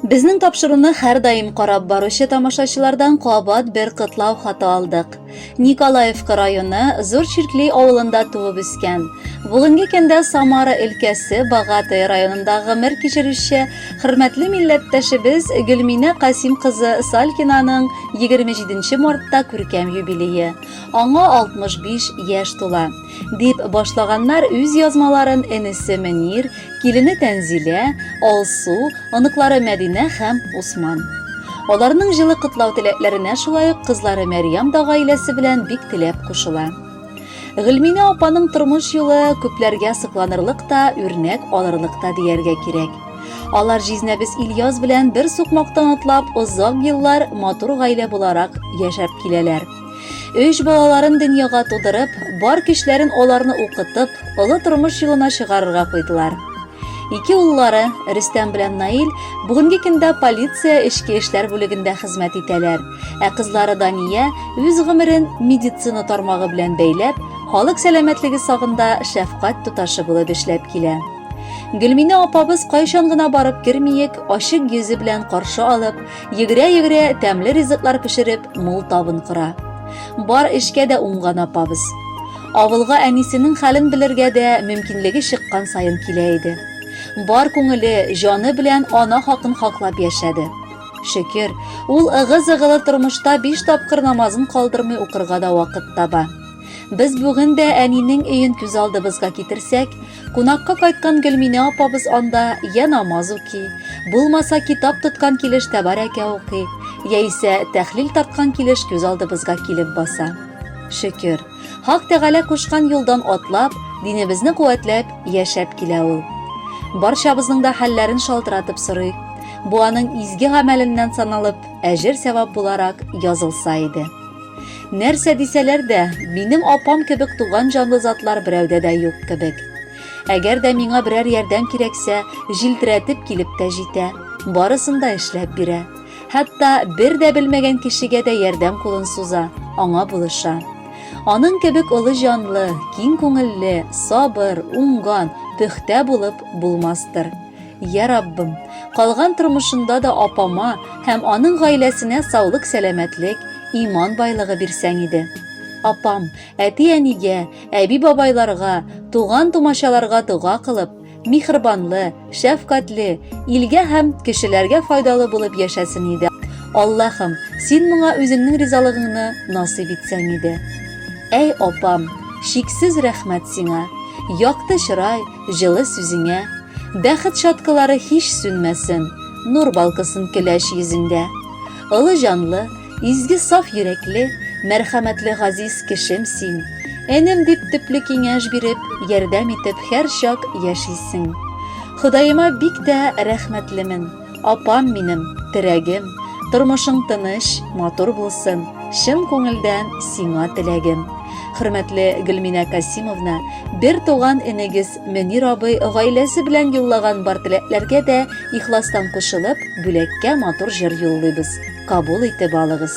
Безнең тапшыруны һәрдаим карап баручы тамашачылардан кабат бер котлау хаты алдык. Николаевка районы Зур Чиркли авылында туып үскән. Бүгенге көндә Самара өлкәсе Багатый районында гомер кичерүче хөрмәтле милләттәшебез Гөлминә Касим кызы Салькинаның 27 мартта күркәм юбилее. Аңа 65 яшь тула. Дип башлаганнар үз язмаларын энесе Мөнир, килене Тәнзилә, Алсу, оныклары Мәдинә һәм Усман. Аларның җылы котлау теләкләренә шулай ук кызлары Мәрьям да гаиләсе белән бик теләп кушыла. Гөлминә апаның тормыш юлы күпләргә сокланырлык та, үрнәк алырлык та дияргә кирәк. Алар җизнәбез Ильяс белән бер сукмактан атлап, озак еллар матур гаилә буларак яшәп киләләр. Өч балаларын дөньяга тудырып, бар көчләрен аларны укытып, олы тормыш юлына чыгарырга куйдылар. Ике уллары, Рөстәм белән Наил, бүгенге көндә полиция эчке эшләр бүлегендә хезмәт итәләр. Ә кызлары Дания үз гомерен медицина тармагы белән бәйләп, халык сәламәтлеге сагында шәфкать туташы булып эшләп килә. Гөлминә апабыз кайчан гына барып кермиек, ачык йөзе белән каршы алып, Йөгерә-йөгерә тәмле ризыклар пешереп, мул табын кора. Бар эшкә дә уңган апабыз. Авылга әнисенең хәлен белергә дә мөмкинлеге чыккан саен килә иде. Бар күңеле, җаны белән ана хакын хаклап яшәде. Шөкер, ул ыгы-зыгылы тормышта биш тапкыр намазын калдырмый укырга да вакыт таба. Без бүген дә әнинең өен күз алдыбызга китерсәк, Кунакка кайткан Гөлминә апабыз анда я намаз уки, булмаса китап тоткан килеш тәбарәкә укый, яисә тәхлил тарткан килеш күз алдыбызга килеп баса. Шөкер, Хак Тәгалә кушкан юлдан атлап, динебезне куәтләп, яшәп килә ул. Барчабызның да хәлләрен шалтыратып сорый. Бу аның изге гамәленнән саналып, әҗер-сәвап буларак язылса иде. Нәрсә дисәләр дә, минем апам кебек туган җанлы затлар берәүдә дә юк кебек. Әгәр дә миңа берәр ярдәм кирәксә, җилтерәтеп килеп тә җитә, барысын да эшләп бирә. Хәтта бер дә белмәгән кешегә дә ярдәм кулын суза, аңа булыша. Аның кебек олы җанлы, киң күңелле, сабыр, уңган, пөхтә булып булмастыр. Я Раббым, калган тормышында да апама һәм аның гаиләсенә саулык сәламәтлек, иман байлыгы бирсәң иде. Апам, әти-әнигә, әби-бабайларга, туган-тумачаларга дога кылып, михрбанлы, шәфкатьле, илгә һәм кешеләргә файдалы булып яшәсен иде. Аллаһым, син моңа үзеңнең ризалыгыңны насыйп итсәң иде. Әй апам, чиксез рәхмәт сиңа. Якты чырай, Җылы сүзеңә, бәхет чаткылары һич сүнмәсен, нур балкысын көләч йөзеңдә. Олы җанлы, изге саф йөрәкле, мәрхәмәтле газиз кешем син. Энем дип төпле киңәш биреп, ярдәм итеп һәрчак яшисең. Ходаема бик тә рәхмәтлемен. Апам минем, терәгем, тормышың тыныч, матур булсын, чын күңелдән сиңа теләгем. Хөрмәтле Гөлминә Касимовна, бер туган энегез Мөнир абый гаиләсе белән юллаган бар теләкләргә дә ихластан кушылып, бүләккә матур җыр юллыйбыз. Кабул итеп алыгыз.